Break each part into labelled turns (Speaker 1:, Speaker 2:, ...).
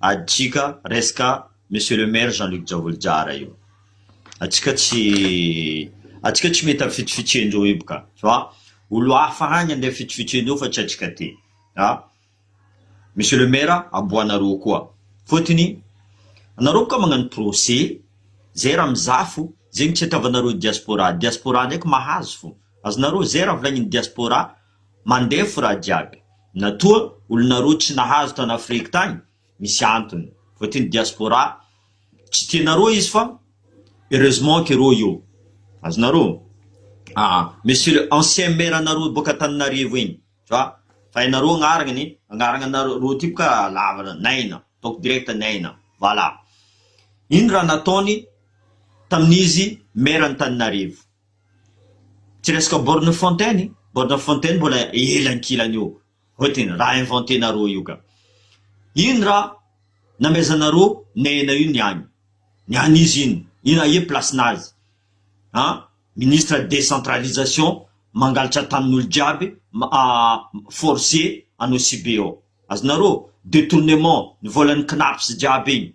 Speaker 1: Adika resaka Monsieur le Maire Jean Luc Javolijara io. Atsika tsy atsika tsy mety afitofitoy an'ireo io ka. Tu vois? Olo hafa agny andeha afitofitoy an'ireo fa tsy atsika aty. A! Monsieur le Maire aboanareo koa. Fotony anareo boka magnano procès zay raha mizafo zegny tsy hatavanareo diaspora. Diaspora ndraiky mahazo fo. Azonareo zay raha volagnin'ny diaspora. Mandefo raha jiaby na toa olona roa tsy nahazo tany afrique tany misy antony fa ty ny diaspora tsy tianareo izy fa heureusement que roa io azonareo aa monsieur le ancien maire nareo boka Antananarivo iny fa fa enareo agnarany agnarana nareo ty boka lava naina ataoko direct naina voilà ino raha nataony tamin'izy maire Antananarivo. Tsy resaka borne fontaine, borne fontaine mbola ela ankilany eo, hoe tena raha inventenareo io ka. Iny raha namehezanareo nena io ny any, ny any izy iny, iny aie place nazy an, ministre decentralisation mangalatra tanin'olo jiaby force anao sibe ao, azonareo, detournement ny volan'ny cnaps jiaby iny.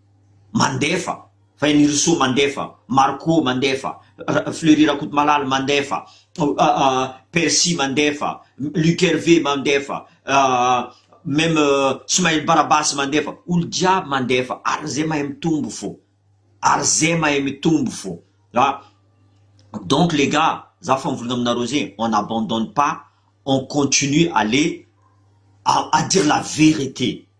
Speaker 1: mandefa, Henirsoa mandefa, Marco mandefa, Fleury Rakotomalala mandefa, Percy mandefa, Luc Hervé mandefa, même Smail Barabasy mandefa, olo jiaby mandefa ary ze mahay mitombo fo, ary ze mahay mitombo fo a, donc les gars za fa mivolagna aminareo ze on abandonne pas on continue aller à dire la vérité.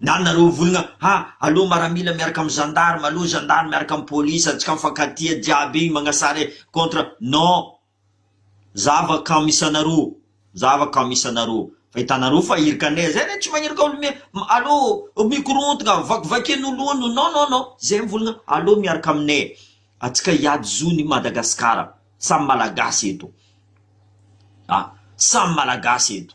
Speaker 1: Na nareo vologna ha alou maramila miaraka am zandary malou zandary miaraka am police antsika mifankatia jiaby igny magnasare contre non zava kam isanareo zava kam isanareo fa itanareo fa irika anay zay re tsy magnirika olo mi alou mikorontogna vakivakian olo non non non zay am vologna alou miaraka aminay atsika hiady zony i Madagascar samy malagasy eto a samy malagasy eto.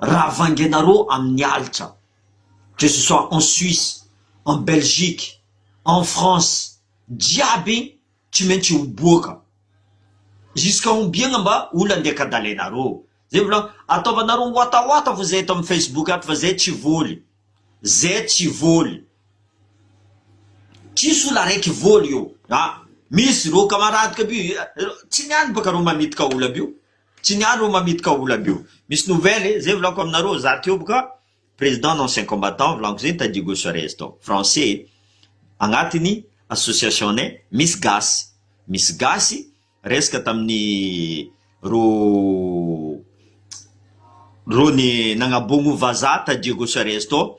Speaker 1: Raha vangenareo amin'ny halitra, que ce soit en Suisse, en Belgique, en France, jiaby tsy maintsy ho boaka. Jusqu'à combien ngamba olona andeha kadalainareo? Zay mbola ataovanareo watawata fo zay eto amin'ny Facebook ato fa zay tsy voly. Zay tsy voly. Tsisy olona araiky voly eo. Ah, misy reo kamaradiko aby io, tsy ny any baka reo manitika olona aby io. Tsy ny andro mamitdka ola be io. Misy nouvelle e, zay volako aminareo, za teo boka président d'ancien combattant volako zay nitady Hugo Suarez tao, français e, agnatiny association-nay misy gasy, misy gasy resaka tamin'ny ro ro ny nagnabogno vazaha ta Diego Suarez tao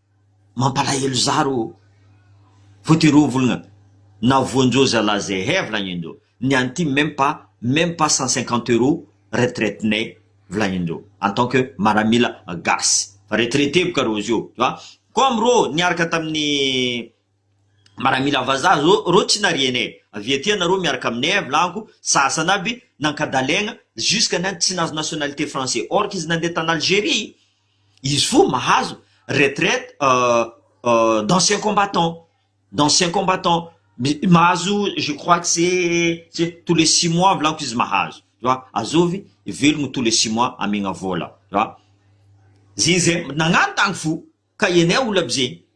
Speaker 1: Mampalahelo za rô! Voatery ho volagna na voanjo zalah ze he volagnindreo, ny any ty meme pas, meme pas cent cinquante euro retraite ne volagnindreo en tant que maramila gasy, fa retraite boka reo zio tu vois, comme reo niaraka tamin'ny maramila vazaha zao reo tsy nariany e, avy aty anareo miaraka aminay e volagniko, sasany aby nankadalegna jusqu'à ny any tsy nahazo nationalité français, orque izy nandeha tany Algerie. Izy fo mahazo retraite d'ancien combattant, d'ancien combattant mahazo je crois que c'est tous les six mois volako izy mahazo fa azovy velogno tous les six mois amegna vola fa zegny zay nagnano tany fo ka enay olo aby zegny.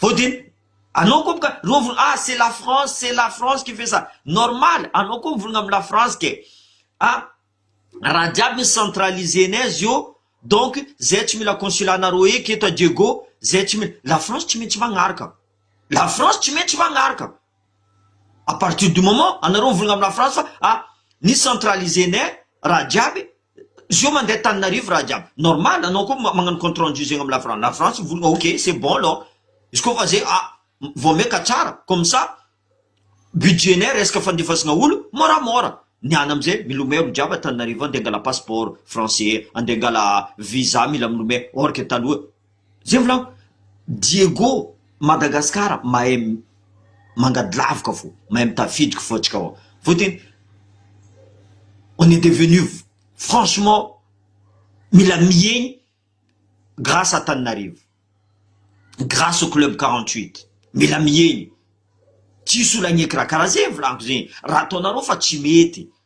Speaker 1: Vao dia anao koa ka roa volana ah c'est la France c'est la France qui fait ça normal anao koa mivolagna am la France ke ah raha jiaby ny centralisé nez eo donc zay tsy mila consulat nareo eky eto à Diego zay tsy mila la France tsy maintsy magnaraka la France tsy maintsy magnaraka à partir du moment anareo mivolagna am la France fa ah ny centralisé nez raha jiaby Zio mandeha taninarivo raha jiaby normal anao koa magnano compte rendu zegny am lafrantsa lafrantsa mivolagna ok c'est bon lô izy koa fa zay ah vao meka tsara comme ça budget nay resaka fandefasagna olo môramôra ny any amzay milomay olo jiaby a taninarivo any de angala passeport français ande angala visa mila milomay or que taloha Zay volako, Diego Madagascar mahay mangady lavika fo, mahay mitafidiky fo atsika ao, vao teny on est devenu franchement mila mihegny grâce Antananarivo, grâce au club quarante huit, mila mihegny, tsisy olo hagneky raha karaha zay volako zay, raha ataonareo fa tsy mety,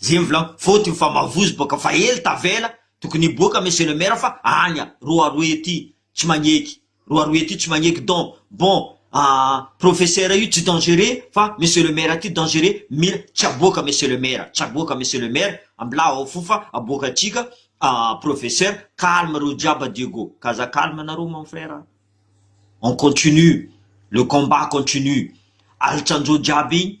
Speaker 1: Zay mivolagna faute ny famavozo boka fa ela tavela tokony hiboaka monsieur le maire fa anya roaroa ety tsy magneky roaroa ety tsy magneky don bon ah professeur io tsy dangereux fa monsieur le maire ty dangereux mila tsy aboaka monsieur le maire tsy aboaka monsieur le maire ambilao ao fo fa aboaka atsika ah professeur calme reo jiaby adio go ka aza calme nareo mon frère ah on continue le combat continue alitsanjo jiaby iny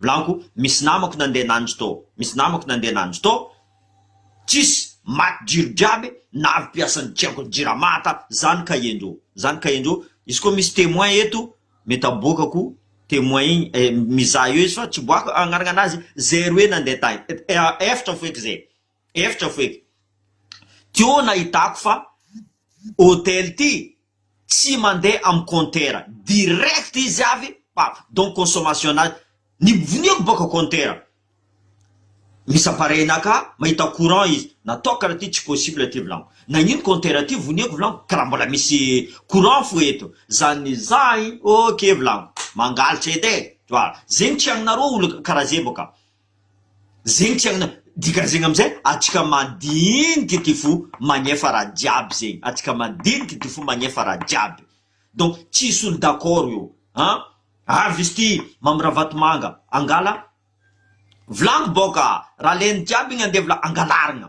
Speaker 1: Volaniko misy namako nandeha nanjo tao, misy namako nandeha nanjo tao, tsisy, maty jiro jiaby, na avy mpiasan'ny tsy haiko jirama ta zany kahenjo, zany kahenjo, izy koa misy temoin eto mety aboakako temoin igny eh, mizaha eo izy fa tsy boako agnarana anazy, zay roe nandeha tagny, eh, eh, efatra feky zay. Efitra f'e. Teo nahitako fa hôtel ity tsy mandeha am compteur direct izy avy pa donc consommation nazy nibvoniako bôka compteur misy appareil naka mahita courant izy nataoko raha ty tsy possible ty vlaniko nagnino compteur ty voniako vlaniko karaha mbola misy courant fo eto zany ny zahy ok vlaniko mangalatra edy e! Voilà zegny tsy agnareo olo karaha ze bôka zegny tiagna dikany zegny amizay atsika madiniky ty fo magnefa raha jiaby zegny atsika madiniky ty fo magnefa raha jiaby donc tsisy olo d'accord io an avy izy ty mamy ravatomanga angala vilagny bôka raha leny jiaby igny andevo la angalarigna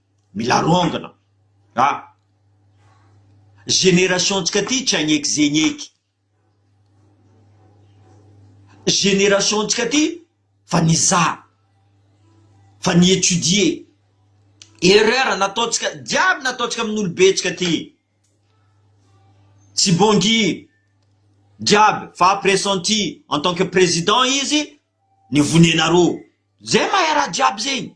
Speaker 1: Mila rongana a! Génération ntsika ty tsy hagneky ze higneky. Génération ntsika ty fa nizaha, fa ni étudier. Erreur nataontsika jiaby nataontsika amin'ny olobe ntsika ty. Tsy bongi jiaby fa pressenti en tant que président izy ny vonenareo. Zay mahay raha jiaby zegny.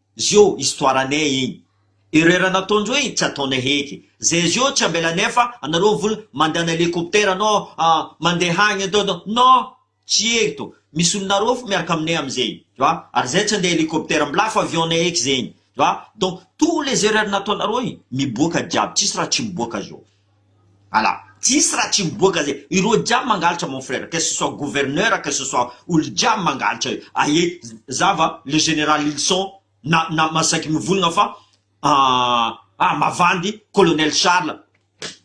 Speaker 1: Zio histoire anay igny. Ireo raha nataonjeo igny tsy ataonay heky. Zay zio tsy ambelanay fa anareo vola mandana elikoptera anao mande hagny atao atao. Non! Tsy eto. Misy olona arofo miaraka aminay amizay. Tu vois? Ary zay tsy ande elikoptera. Mbola hafa avion nay heky zegny. Tu vois? Donc tous les erreurs nataonareo igny miboaka jiaby. Tsisy raha tsy miboaka zio. Ala. Tsisy raha tsy miboaka zay. Ireo jiaby mangalatra mon frère, que ce soit gouverneur, que ce soit olo jiaby mangalatra io. Aie zava le général ilson na na ma saiky mivolagna fa ah mavandy colonel charle.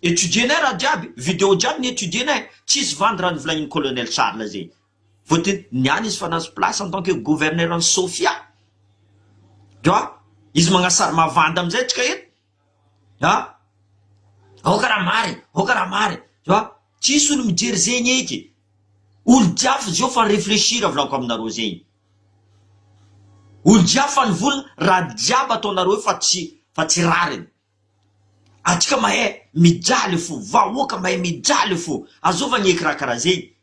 Speaker 1: Etudier-nay raha jiaby, video jiaby ni etudier-nay. Tsisy vandy raha novolagnin'i colonel charle zegny. Vao te niala izy fa nahazo place en tant que gouverneur an'i sofia. Dra izy magnasary mavandy amizay atsika eto. a! aoka raha mary e! aoka raha mary e! tu vois, tsisy olo mijery zegny eky, olo jiaby zao fa réfléchir avy laoko aminareo zegny, olo jiaby fa nivola raha jiaby ataonareo io fa tsy fa tsy rariny, antsika mahay mijaly fo, vahoaka mahay mijaly fo, azovagny eky raha karaha zegny,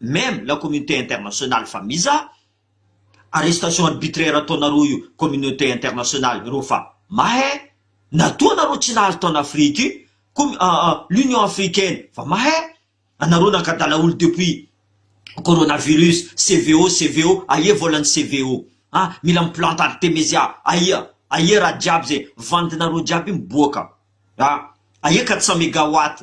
Speaker 1: Même la communauté internationale fa mizaha arrestation arbitraire ataonareo io communauté internationale ireo fa mahè na toa nareo tsy nahazo tao an'Afrika io com l'union africaine fa mahè anareo nankadala olo depuis coronavirus CVO CVO aia volan'ny CVO a mila miplante artemezia aia aia raha jiaby zay vandinareo jiaby miboaka a aia 400 megawatt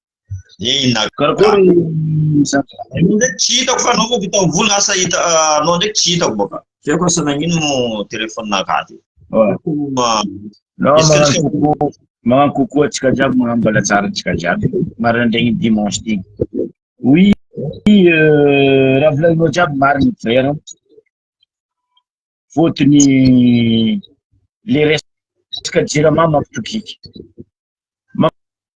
Speaker 1: Inona
Speaker 2: koa ry Anao
Speaker 1: ndraiky tsy hitako fa anao vao vita mivola na asa hita anao ndraiky tsy hitako baka. Tsy haiko asa nagnino mo téléphone nakaty. Magnano
Speaker 2: coucou antsika jiaby, magnano mbala tsara antsika jiaby maraindraigny dimanche ty. Oui, euh, raha volagninao jiaby marigny frère. Fôtony le resaka jirama mampitokiky.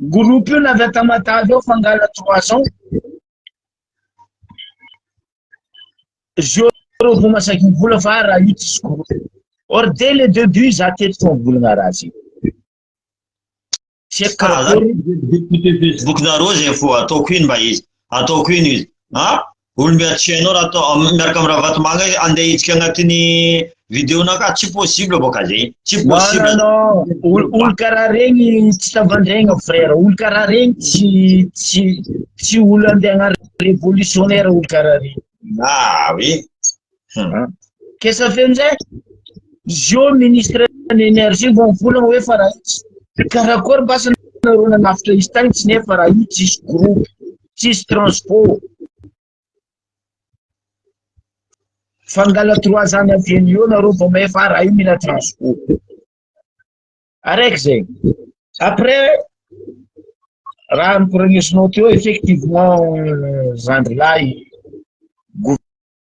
Speaker 2: Groupe io avy aty Matavy ao Fangala trois cents. Zéro vao masaky ny vola fa raha io tsisy groupe. Or dès le début za teto fa volagna raha zay. Check karakory. Facebook
Speaker 1: nareo zay fo ataoko ino mba izy. Ataoko ino izy. Ha? Olo miady tsy hainao raha atao miaraka amin'ny Ravatomanga andeha hidika agnatin'ny vidéo-na ka tsy possible boka zay. Tsy possible. Non non, olo
Speaker 2: olo karaha regny tsy tavandraigna frère, olo karaha regny tsy tsy tsy olo andeha agna révolutionnaire olo karaha regny. Ah oui. Qu'est-ce ça fait amizay? Izy io ministre ny énergie vao mivolagna hoe fa raha itsy. Karakory mbasa nareo nanavotra izy tagny tsy nefa raha io tsisy groupe, tsisy transport. Fangala trois ans avy eo eo nareo vao mahay fa raha io mila transport. Araiky zay. Après raha nikoragnesinao teo effectivement zandry lahy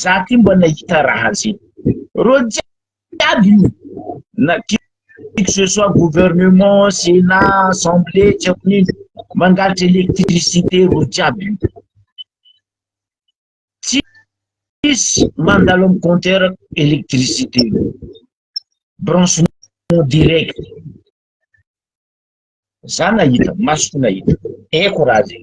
Speaker 2: za ty mba nahita raha zay reo jiaby io na que ce soit gouvernement sénat assemblée tsy haiko nino mangalatra électricité reo jiaby io tsisy mandalo am compteur électricité branchement direct za nahita masoko nahita eko raha zay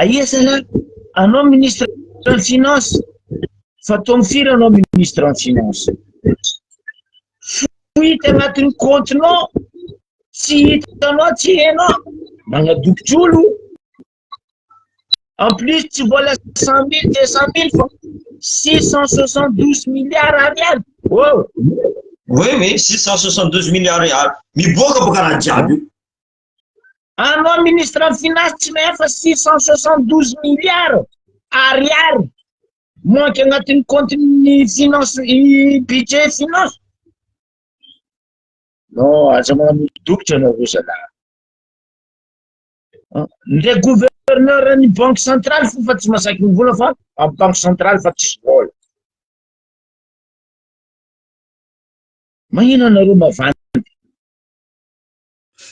Speaker 2: Aia zany an? Anao ministre ny finance fa taomi firy anao ministre ny finance? Fohita agnatin'ny compte-nao tsy hitanao tsy hainao magnadokitr'olo en plus tsy vola cent mille deux cent mille fa six cent soixante douze milliards ariary oh oui oui six cent soixante
Speaker 1: douze milliards ariary miboaka boka raha jiaby io
Speaker 2: Anao ministre ny finance tsy mahay fa six cent soixante douze milliards ariary manque agnatin'ny compte-n'ny finance i budget finance. Non, aza manompo dokitra anao roa zalahy. Ah, Ndray gouverneur ny banque centrale fo fa tsy masaky ny vola fa amin'ny banque centrale fa tsisy vola. Mahina anareo mavandy.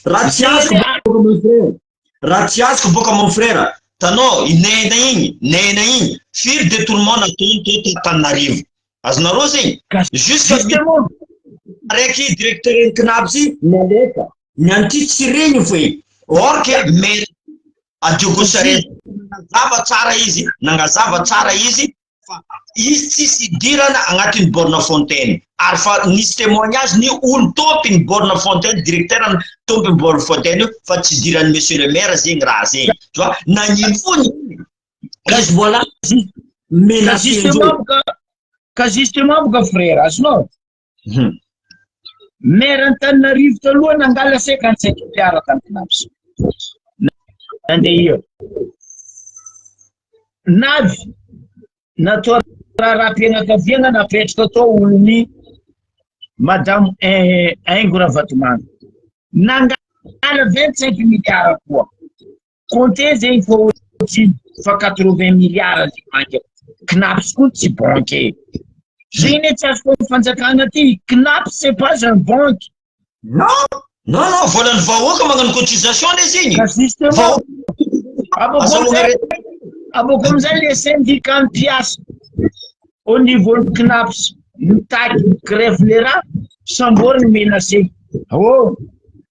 Speaker 1: Raha tsy azoko boaka mon frère. Raha tsy azoko boaka mon frère. Tanao i nena igny, nena igny firy detournement nataony teto Antananarivo. Azonareo zegny? Jusque justement araiky directeur ny CNAB ty nalefa. Ny an'ty tsy regny foe. Or que maire Adiogo Charette nagnazava tsara izy, nagnazava tsara izy fa izy tsisy hidirana agnatin'ny borne fontaine ary fa nisy témoignage ny olo tompiny borne fontaine directeur tompiny borne fontaine io fa tsy hidiran'ny monsieur le maire zegny raha zegny tu vois nagnino fony izy mbola menacé justement
Speaker 2: ka justement ka frère azonao Hum. Maire Antananarivo taloha nangala 57 milliards tamin'ny CNAPS. Nandeha eo. Navy natao raharaham-pianakaviana napetraka tao olon'ny Madame Aingo Ravatomanga. Nangala 25 milliards koa. Compter zegny fa ohatrino fa quatre vingt milliards ny banque Cnaps koa tsy banque Zay anie tsy azoko am fanjakana ty Cnaps c'est pas un banque Non
Speaker 1: non non volan'ny vahoaka magnano cotisation le zegny Ka
Speaker 2: justement abako amizay le syndicat mpiasa au niveau ny Cnaps mitaky grève le raha sambory ny menacé oh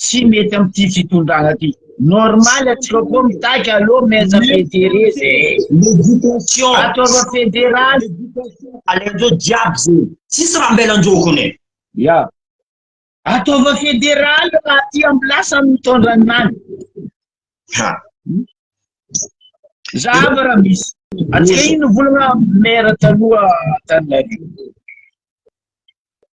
Speaker 2: tsy mety amty fitondrana ty normal atsika koa mitaky alo maître federe zay l'éducation
Speaker 1: ataova
Speaker 2: fédéral alenjo
Speaker 1: jiaby zay tsisy raha ambelanjoko ne ya
Speaker 2: ataova fédéral raha ty am place am mitondra ny nany ha zava raha misy atsika ino volagna maire taloha tanilary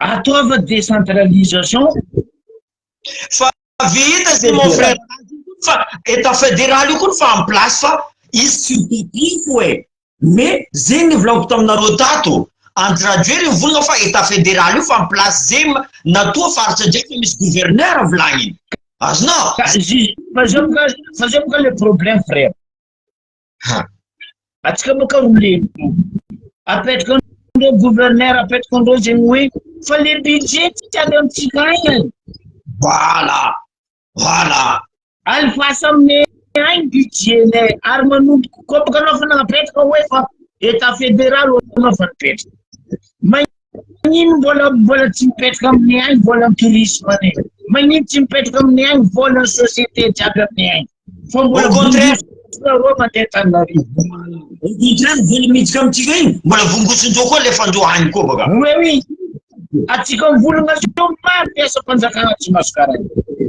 Speaker 2: ataova décentralisation
Speaker 1: fa vita zay mon frère fa état fédéral io koa ny fa en place fa izy tsy mitotifo e mais zegny ny volagniko taminareo tato antiradreo ny volagna fa état fédéral io fa en place zegny natoa faritra jiaby fa misy gouverneur volagniny azonao fa
Speaker 2: zay fa zay boka le problème frère ha atsika moa ka ho lehibe apetraka an'ireo gouverneur apetraka an'ireo zegny hoe fa le budget tika avy amintsika aina voilà
Speaker 1: voilà alifasa
Speaker 2: aminay ainy budget nay ary manomboka koa baka anao fa nanapetraka hoe fa état fédéral anao fa nipetraka magnino mbola mbola tsy mipetraka aminay ainy vola ny tourisme any magnino tsy mipetraka aminay ainy vola ny société jiaby aminay ainy Fa mbola contraire nareo mandeha Antananarivo. Au
Speaker 1: contraire, vola miditra amintsika iny, mbola vongotsonjeo koa alefandreo any koa baka. Oui, oui.
Speaker 2: Atsika mivolagna zao maro mpiasam-panjakana tsy masokara.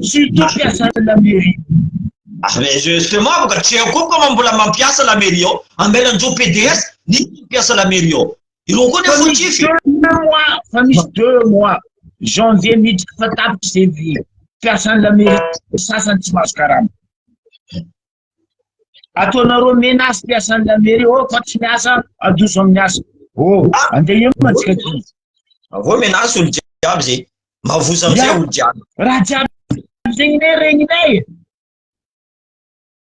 Speaker 2: Surtout mpiasan'ny la mairie. Ah, mais
Speaker 1: justement, baka tsy eo koa baka mbola mampiasa la mairie ao. Amelanjeo PDS, nisy mpiasa la mairie ao. Ireo koa ny fautif. Fa
Speaker 2: misy deux mois, janvier miditra fa tapitra izay vy. Mpiasan'ny lamairie sasany tsy mahazo karama. Ataonareo menace mpiasan'ny lamairie, oh fa tsy miasa, adoso amin'ny asa. Oh, andeha eo mantsika ty. Avao menace
Speaker 1: olo jiaby zay. Mavoza amin'izay olo jiaby. Raha jiaby
Speaker 2: zegny ne regninay.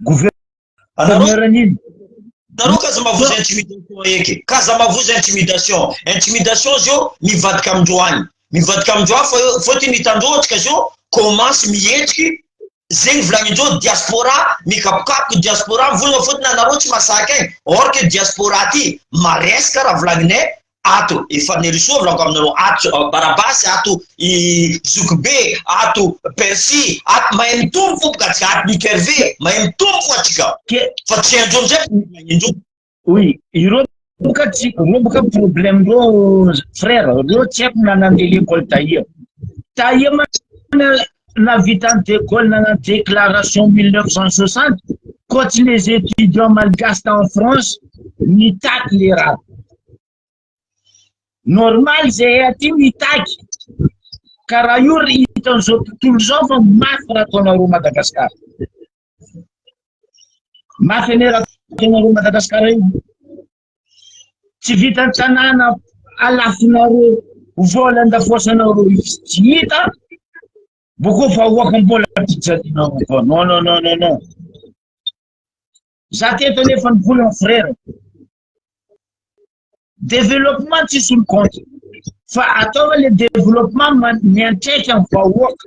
Speaker 2: Gouverneur nini? Nareo kaza
Speaker 1: mavozo intimidation eky. Kaza mavozo intimidation. Intimidation zio mivadika amindreo any. Mivadika amindreo any fa fotony hitandroantsika zio commence mihetsiky zegny volagnindreo diaspora mikapokapoky diaspora mivolagna fotony anareo tsy masaky aigny or que diaspora ty maresaka raha volagninay ato i Fanirisoa milaoka aminareo ato uh, Barabasy ato i Zokibe ato Percy ato mahay mitombo fo ka tsy ato Luc Hervé mahay mitombo fo atsika fa tsy andro amizay indro oui
Speaker 2: ireo boka tsy ireo boka problème reo frère reo tsy haiko na nandeha l'école tahia tahia mana nahavitan'i De Gaulle nanao déclaration mille neuf cent soixante koa tsy les étudiants malgaches tao France nitaky le raha normal zay aty mitaky ka raha io ry hitan'izao tontolo izao fa mafy raha ataonareo Madagasikara mafy anie raha ataonareo Madagasikara io tsy vitan'ny tanàna alafonareo vola andafoasanareo tsy hita boko fa hoaka mbola fijalianareo koa non non non non non za teto nefa ny vola frere développement tsisy ny compte fa ataova le développement miantraika ny vahoaka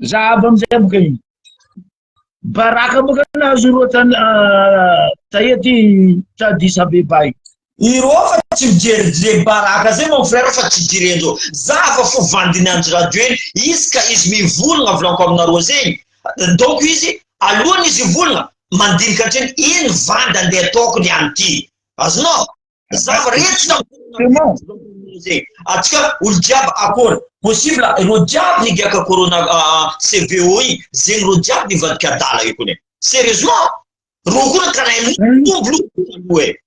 Speaker 2: Zahabo amizay boka iny. Baraka boka nahazo roa tany tahety Addis Abeba iny. Ireo fa
Speaker 1: tsy mijery le baraka zay mon frère fa tsy jirenjo. Za fa fo vandiny Andry Rajoely izy ka izy mivolagna volanko aminareo zay. Donc izy alohany izy hivolagna mandinika hatreny iny vanda ndeha ataoko ny an'ity. Azonao? Za mirehitra tamin'ny Corona atsika olo jiaby akôry possible ireo jiaby nigiaka Corona CVO i zegny ireo jiaby nivadika adala io kone sérieusement reo koa karaha mitombo loha e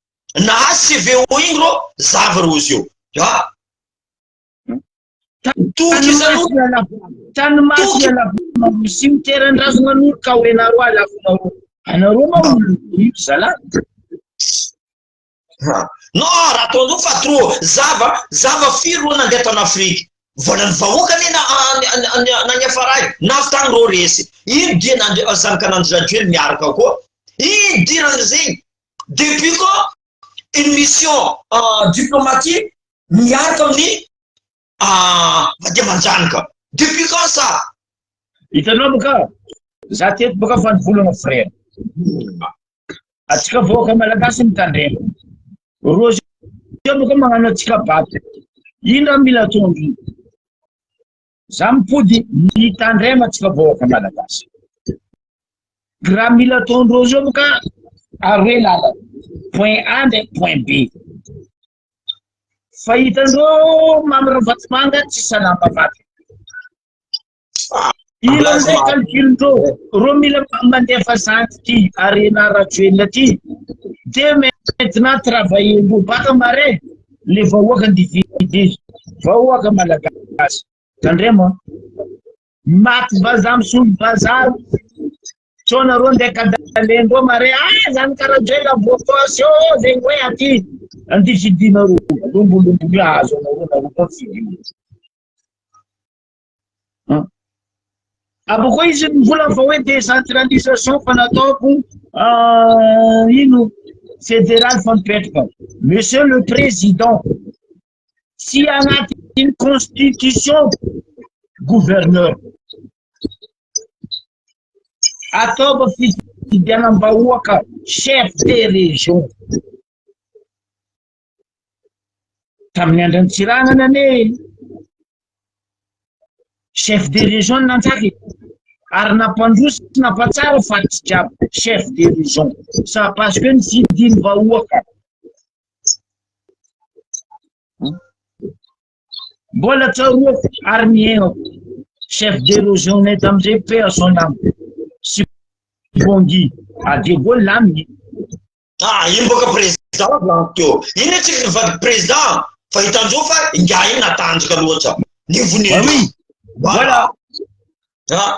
Speaker 1: nahazo CVO igny reo zava reo zio a toky zany tany maty
Speaker 2: ala misy miteran-drazagna an'olo ka hoenareo ala anareo ma olo zalahy
Speaker 1: No raha toa fa trop zava zava firy ro nandeha tany Afrique volan'ny vahoaka anie na na niafaray navy tany ro resy ino dian'andri zanak'anandry rajoely miaraka koa ino dirany zegny depuis quand une mission diplomatique miaraka amin'ny Ah mba dia manjany ka. Depuis quand ça? Hitanao
Speaker 2: moa ka. Za teto boka fa nivolana frère. Atsika vahoaka malagasy mitandrema. Roa zao boka magnano atsika bato. Indra mila tondro. Za mipody mitandrema atsika vahoaka malagasy. Raha mila tondro zao boka aroe lala. Point A ndraiky point B. Fa hitan'ireo Mamy Ravatomanga tsy salama vaky. Ila amin'izay calculindreo, reo mila mandefa zany ty Arena Rajoelina ty. De maintenant travailler ndreo baka marais, le vahoaka ndividy, vahoaka malagasy. Tandremo an. Maty vaza misolo vaza. Tsona ro ndeha kadalendo mare ah zany karajela bokosy ô zay hoe aty anty fidina ro lombolombo io azo anao ro nareo koa fidina. Apo koa izy mivolagna fa hoe décentralisation fa nataoko ah, ino fédéral fa mipetraka. Monsieur le Président, tsy anatin'ny constitution gouverneur ataovy fifidianam-bahoaka chef de région tamin'ny andran'ny tsiranana ane chef de région nanjary ary nampandroso nampatsara fa tsy jiaby chef de région ça parce que ny fidiny vahoaka Mbola tsaroako ary ny ainako. Chef de région-nay tamin'izay Père Jean Lamy sy Bongi à De Gaulle aminy. Ah,
Speaker 1: iny boka président avy lany teo. Iny hoe tsy vady président fa hitan'izao fa ingahy iny natanjaka loatra. Nivonetra. Ah oui. Voilà.
Speaker 2: Ah.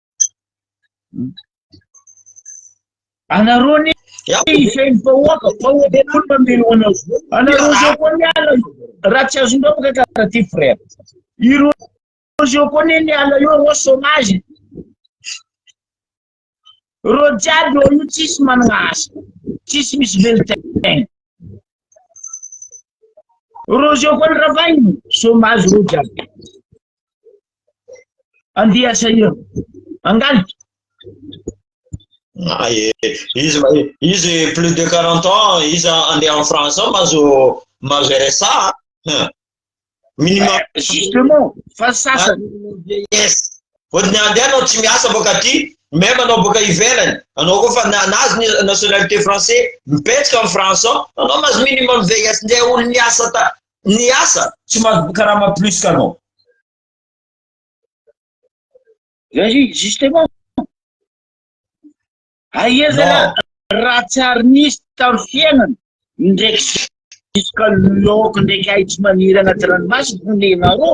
Speaker 2: Anareo ny izay ny vahoaka, vahoaka koa mamely ho anao. Anareo izao koa ny ala raha tsy azonao ka karaha ty frère. Ireo izao koa ny ny ala eo reo chômage. Reo jiaby eo io tsisy manana asa, tsisy misy velon-tegna. Reo izao koa ny ravahiny, chômage reo jiaby. Andeha sahirana. Angaly. Ah,
Speaker 1: izy, izy plus de 40 ans, izy andeha en France ao mazo mazo RSA. Minimum. Eh, justement,
Speaker 2: fa sasany. Yes.
Speaker 1: Ohatry ny andeha anao tsy miasa boka aty, même anao boka ivelany, anao koa fa nanazy ny nationalité français, mipetsika en France ao, anao mazo minimum VIS ndeha olo miasa ta ny asa tsy mahazo karama plus kanao vas-y
Speaker 2: justement aia zala raha tsy ary nisy tamy fiainana ndraiky jusqu'à l'eau ndraiky ahitsy maniry agnaty ranomasy vonenareo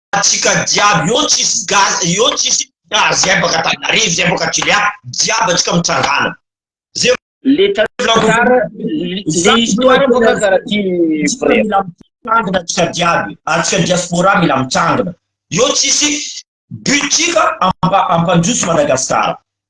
Speaker 3: Atsika jiaby eo tsisy gasy eo tsisy na zay baka Antananarivo zay baka Toliara jiaby atsika mitsangana ze
Speaker 2: atsika
Speaker 3: jiaby atsika diaspora mila mitsangana eo tsisy but tsika ampanjoso Madagascar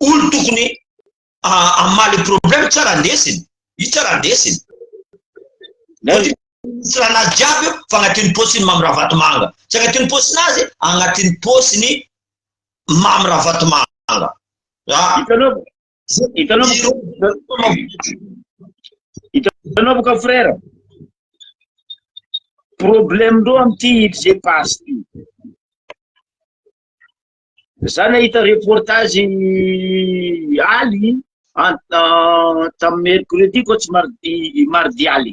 Speaker 3: olo tokony amaly ah, problème tsara ndesiny i tsara ndesiny tsiranazy jiaby io fa agnatin'ny posiny mamy ravatomanga tsy agnatin'ny posiny azy agnatin'ny posiny mamy ravatomanga ah.
Speaker 2: hitanao boka frère problème ndreo amity ipg passe ty Za nahita reportage aly tamin'ny mercredi ko tsy mardi mardi aly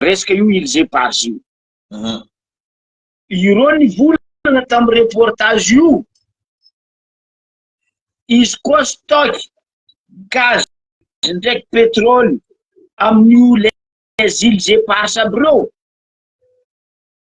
Speaker 2: resaka io îles éparses io mhm. ireo ny volana tamin'ny reportage io izy koa stock gaz ndraiky petrole amin'io les îles éparses aby reo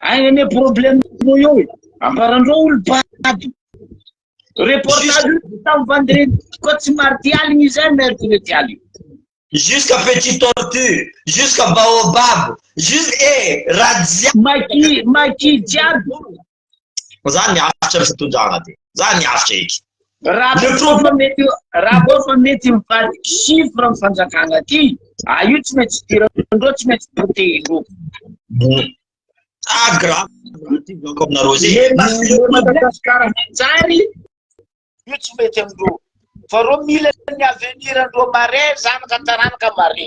Speaker 2: Ay anie problème no eo e. Amparan-dreo olo bado. Reportage tam vendredi ko tsy mardi aligny izay mercredi aligny. Jusqu'à
Speaker 3: petit tortue, jusqu'à baobab, jusqu'à eh, rajia. Maki
Speaker 2: maki jiaby.
Speaker 3: Za miaritra ny fitondrana de. Za miaritra eky. Raha mety
Speaker 2: raha vao fa mety mivady chiffre ny fanjakana aty, a ah, io tsy mety idirandreo tsy mety potehindreo. Mm. Ah
Speaker 3: grave. Ako aminareo zay.
Speaker 2: Madagasikara manjary io tsy mety amindreo. Fa reo mila ny avenir andreo mare zanaka taranaka mare.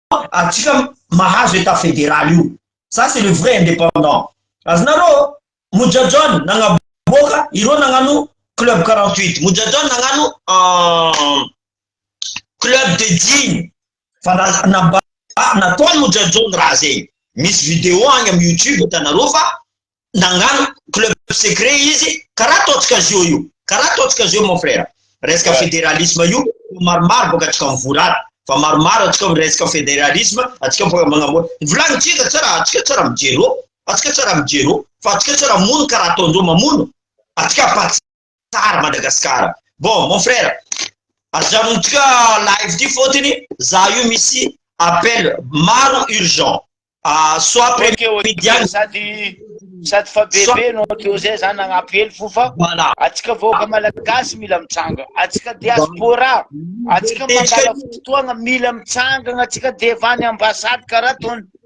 Speaker 3: atsika mahazo état fédéral io ça c'est le vrai indépendant azonareo Moja John nagnaboaka ireo nagnano club 48 Moja John nagnano euh, club de jean fa namba nataony Moja John raha zegny misy vidéo agny am youtube hitanareo fa nagnano club secret izy karaha ataontsika azy io io karaha ataontsika azy io mon frère resaka fédéralisme io maromaro boka atsika mivory ato fa maromaro atsika resaka fédéralisme atsika boka magnamory volagnitsika tsara atsika tsara mijero atsika tsara mijero fa atsika tsara mono karaha ataondreo mamono atsika Tsara Madagascar. Bon mon frère, ajanontsika live ty fotony za io misy appel maro urgent. Ah, soit premier media sady
Speaker 4: sady fa bebe no teo zay za nagnampy hely fo fa voilà. Atsika vahoaka malagasy mila mitsanga. Atsika diaspora, atsika mandala fotoagna mila mitsangagna atsika devant ny ambassade karaha tony.